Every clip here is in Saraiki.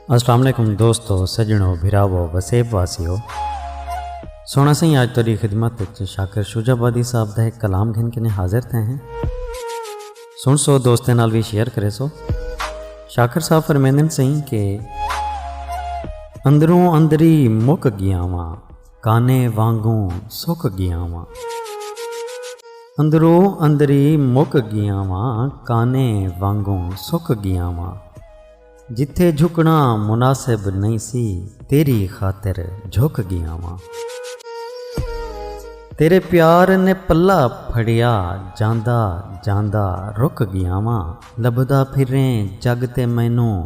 السلام علیکم دوستو سجنو بھراو وسیب واسیو سونا سائیں آج تیری خدمت وچ شاکر شجا بادی صاحب دا ایک کلام گھن کنے حاضر تھے ہیں سن سو دوستیں نال بھی شیئر کرے سو شاکر صاحب فرمیندن سائیں کہ اندروں اندری مک گیا واں کانے وانگوں سک گیاں واں۔ اندرو اندری مک گیاں واں کانے وانگوں سک گیاں واں۔ جتھے جھکنا مناسب نئیں سی تیری خاطر جھک گیاں واں۔ تیرے پیار نے پلہ پھڑیا جاندا جاندا رک گیاں واں۔ لبھدا پھریں جگ تے مینوں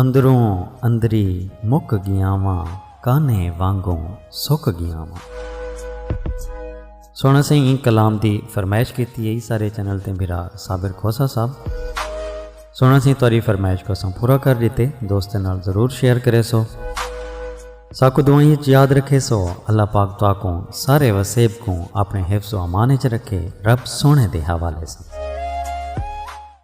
اندروں اندری مک گیاں واں کانھے وانگوں سک گیاں واں۔ سوہݨا سئیں ایں کلام دی فرمائش کیتی ہئی سارے چینل تے بھرا صابر کھوسہ صاحب سوہݨا سئیں تہاݙی فرمائش کوں اساں پورا کر ݙتے دوستاں نال ضرور شیئر کریسو ساکوں دعائیں اچ یاد رکھیسو اللہ پاک تہاکوں سارے وسیب کوں اپݨے حفظ و امان اچ رکھے رب سوہݨے دے حوالے ساں۔